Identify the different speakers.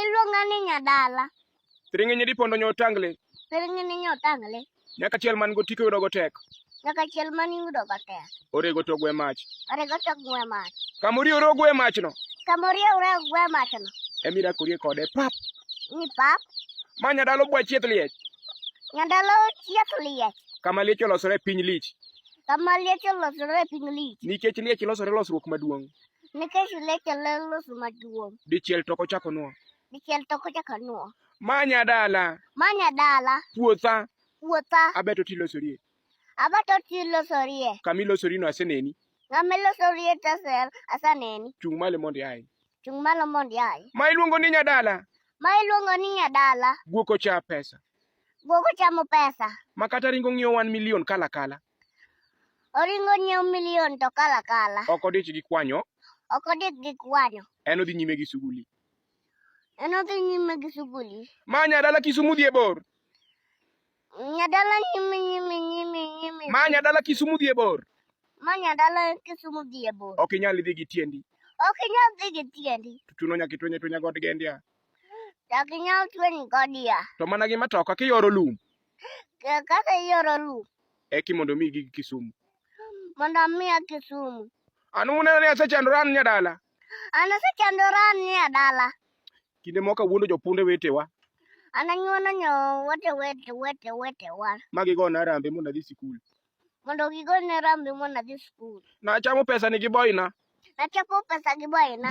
Speaker 1: Iluonga ni Nyadala. Thiring'inyi
Speaker 2: dipondo nyo otangle. Thiring'inyi nyo
Speaker 1: otangle. Nyaka chiel man go
Speaker 2: tiko yudogo tek. Nyaka chiel man
Speaker 1: yudo go tek. Orego to gwe mach.
Speaker 2: Orego to gwe
Speaker 1: mach. Kamori oro gwe
Speaker 2: mach no. Kamori oro
Speaker 1: gwe mach no. Emira korie kode
Speaker 2: pap. Ni pap.
Speaker 1: Ma nyadalo bwa
Speaker 2: chieth liech. Nyadalo
Speaker 1: chieth liech. Kama liech olosore
Speaker 2: piny lich. Kama liech
Speaker 1: olosore piny lich. Nikech liech losore
Speaker 2: losruok maduong'. Nikech leche
Speaker 1: leloso maduong'. Dichiel to kochako
Speaker 2: nuo. Dichiel to kochako
Speaker 1: nuo. Manya dala.
Speaker 2: Manya dala.
Speaker 1: Puotha.
Speaker 2: Puotha. Abeto
Speaker 1: tilosorie.
Speaker 2: Abeto
Speaker 1: tilosorie. Kamilosorino aseneni.
Speaker 2: Kamilosorie
Speaker 1: tasel asaneni. Chung' malo mondo iaye.
Speaker 2: Chung' malo mondo
Speaker 1: iaye. Ma iluongo ni nyadala.
Speaker 2: Ma iluongo ni
Speaker 1: nyadala. Guok ocha pesa.
Speaker 2: Guok ochamo
Speaker 1: pesa. Ma kata ringo ng'iewo
Speaker 2: wan milion kala kala. Oringo
Speaker 1: nyiewo milion to kala kala. Ok odich gi kwanyo.
Speaker 2: Ok odich gi
Speaker 1: kwanyo. En odhi nyime gi suguli.
Speaker 2: En
Speaker 1: odhi nyime gi suguli. Ma nyadala Kisumu
Speaker 2: dhi e bor.
Speaker 1: Nyadala nyime nyime nyime nyime. Ma nyadala
Speaker 2: Kisumu dhi e bor. Ma nyadala
Speaker 1: Kisumu dhi e bor. Ok inyal dhi gi tiendi.
Speaker 2: Ok inyal dhi
Speaker 1: gi tiendi. Tuno nyaka itwenye twenya
Speaker 2: god gendia. Nyaka
Speaker 1: inyal twenye godia. To mana gi matoka
Speaker 2: kiyoro lum. Ka- Kaka
Speaker 1: ioro lum eki mondo mi gig
Speaker 2: Kisumu. mondo
Speaker 1: amiya Kisumu. An uneno ni
Speaker 2: asechandora an nyadala. An asechandora
Speaker 1: an nie dala. Kinde moko
Speaker 2: awuondo jopunde wetewa An anyuono
Speaker 1: nyo wete wete wete wetewa ma gigona
Speaker 2: arambe mondo adhi sikul. mondo gigone
Speaker 1: rambi mondo adhi skul. Nachamo pesa ni gi
Speaker 2: boyna. Nachoko
Speaker 1: pesa gi
Speaker 2: boyna.